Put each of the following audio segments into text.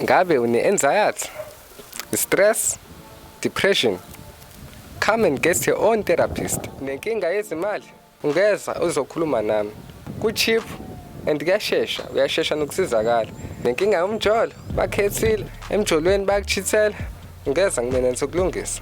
Ngabe une-anxiety, stress, depression? Come and get your own therapist. Nenkinga yezimali ungeza uzokhuluma nami. Ku-cheap and kuyashesha, uyashesha nokusizakala. Nenkinga yomjolo bakhethile, emjolweni bayakuchithela, ungeza kumina ngizokulungisa.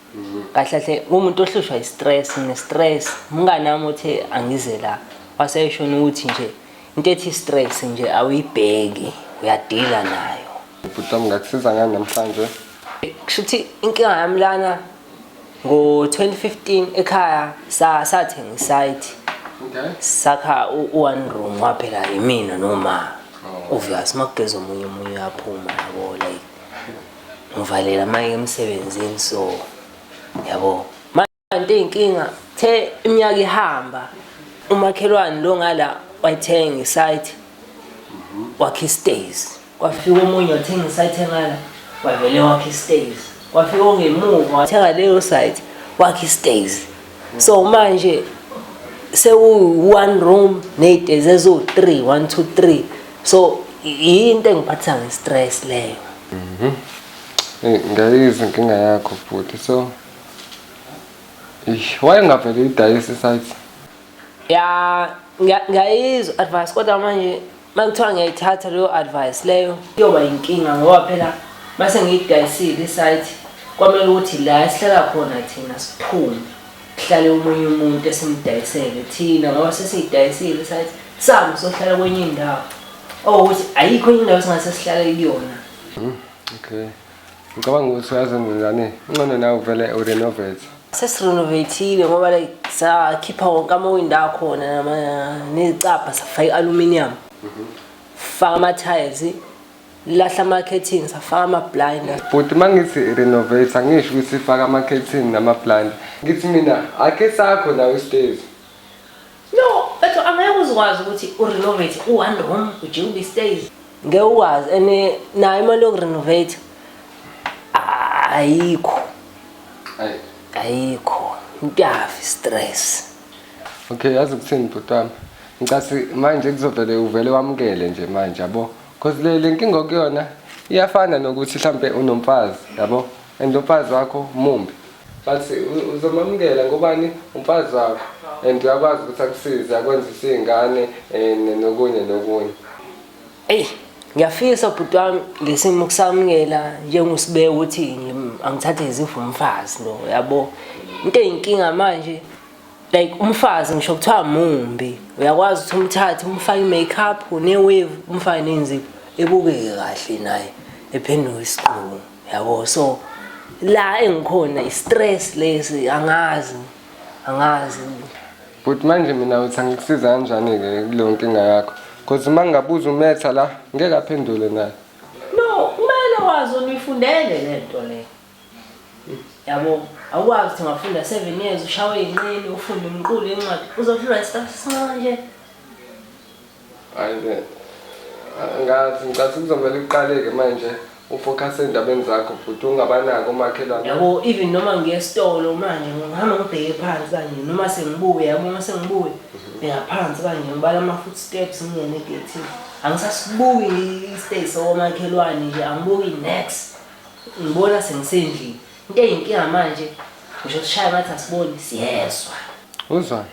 kahle kahle umuntu ohlushwa i-stress ne-stress umngane wami uthe angize la waseyeshona ukuthi nje into ethi stress nje awuyibheki uyadila nayo ubhuti wami ngakusiza ngani namhlanje kusho ukuthi inkinga yami lana ngo-2015 ekhaya sathenga isayiti sakha u-one room waphela yimina noma oh. obvious uma kugeza omunye omunye uyaphuma yabo like ngivalela manje emsebenzini so yabo manje inkinga the iminyaka ihamba umakhelwane lo ngala wayithenga isite wakhe istays kwafika omunye wathenga isite ngala wavele wakhe istays kwafika ongemuva wathenga leyo site wakhe istays so manje sewu one room ney'tezi eziwu-three one two three so yinto engiphathisa nge-stress leyo mhm. eyi ngayizwa inkinga yakho bhuti so ish wayengavele idayisi site ya ngiyayizwa advice kodwa manje Makuthiwa ngiyayithatha leyo advice leyo iyoba inkinga ngoba phela mase ngiyidayisile isite kwamele ukuthi la esihlala khona thina siphume kuhlale omunye umuntu esimdayisele thina ngoba sesiyidayisile isite sami sohlala kwenye indawo okuthi ayikho enye indawo singase sihlale kuyona. Hmm, okay. Ngicabanga ukuthi uyazenza njani incono nawe uvele urenovate. Sesirenovatile ngoba like sakhipha wonke amawindi akhona nezicabha safaka i-aluminium faka ama-tiles lahla ama-catting safaka ama-blind bhuti uma ngithi renovate angisho ukuthi faka ama-catting nama-blind ngithi mina akhe sakho nawe isitezi No, mfethu angeke uzikwazi ukuthi urenovate u-one room ujike ube stays. Ngeke ukwazi and eh, nayo imali yokurenovate ah, ayikho. Ayi. Ayikho. Ngiyafi stress. Okay, yazi ukuthini bhuti wami. Ngicasi manje kuzovele uvele wamukele nje manje yabo. Cause le lenkinga okuyona iyafana nokuthi mhlambe unomfazi yabo. and lo mfazi wakho mumbi but uzomamukela ngobani umfazi wakho and uyakwazi ukuthi akusize akwenzise iy'ngane um nokunye nokunye eyi ngiyafisa bhuti wami ngesimo kusamukela njengusibeke ukuthi angithathe izipho umfazi lo yabo into eyinkinga manje like umfazi ngisho kuthiwa mumbi uyakwazi ukuthi umthathe umfake i-makeup ne-wave umfake nenzipho ebukeke kahle naye ephenduke isiqungu yabo so la engikhona i-stress lesi angazi angazi but manje mina uthi angikusiza kanjani-ke kuleyo nkinga yakho because uma ngingabuza umetha la ngeke aphendule naye no kumele wazi unifundele le nto le yabo awukwazi ukuthi ngafunda seven years ushawe inqini ufunde umqulu incwadi uzohlulwa isitafu sincane nje Hayi ke. Angazi ngicathi kuzomele uqaleke manje ufocus endabeni zakho bhuti ungabanaki omakhelwane. Yabo even noma ngiye esitolo manje ngihamba ngibheke phansi kanje noma sengibuye yabo uma sengibuye bheka phansi kanje ngibala ama foot steps ngingene egethini. Angisasibuki i-stay sokomakhelwane nje angibuki next. Ngibona sengisendlini. Into eyinkinga manje ngisho sishaya ngathi asiboni siyezwa. Uzwani?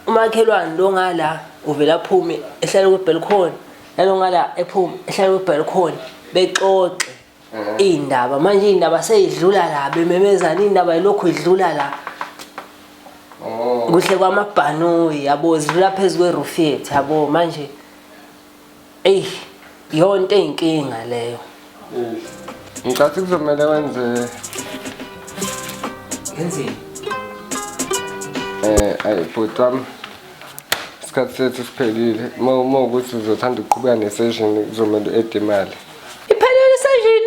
umakhelwane lo ngala uvela aphume ehlale kwebalcony nalo ngala ephume ehlale kwebalcony bexoxe mhm. iy'ndaba manje iy'ndaba seyidlula la bememezana iy'ndaba yilokhu idlula la oh. kuhle kwamabhanoyi yabo zilula phezu kwerufu yethu yabo manje Ey, yonto eyinkinga leyo. Ngicathi kuzomele wenze Ngenzeni? eh ayi bhuti wami isikhathi sethu siphelile uma uma ukuthi uzothanda ukuqhubeka ne-session kuzomele u-ede imali Iphelele session.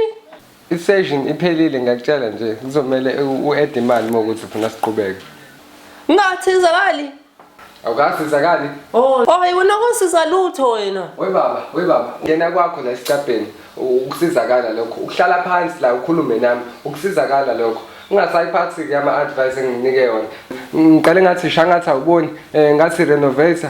I-session iphelile ngiyakutshela nje kuzomele u-add imali uma ukuthi ufuna siqhubeke. Ngathizakali. Awukasizakali? Oh, oh yona kusiza lutho wena. We baba, we baba, ngena kwakho la esicabheni ukusizakala lokho. Ukuhlala phansi la ukhulume nami ukusizakala lokho. Ungasayiphathi ke ama advice enginike yona. Ngiqale ngathi shangathi awuboni, eh ngathi renovator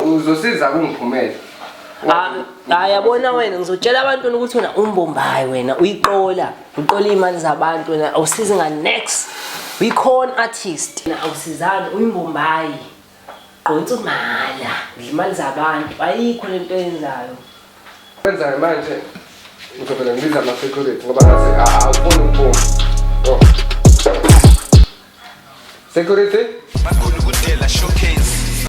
uzosiza kungiphumele Ah, hayi yabona wena ngizotshela abantu ukuthi wena umbombayi wena uyiqola uqola iy'mali zabantu wena awusizi nga-next uyi-corn artist wena awusizani uyimbombayi gqonsa umala udla imali zabantu ayikho le nto yenzayo kwenzayo manje ngizovele ngibiza ama-security ngoba ngathi a- awufuni ukuphuma Oh. security Makhulu kudela showcase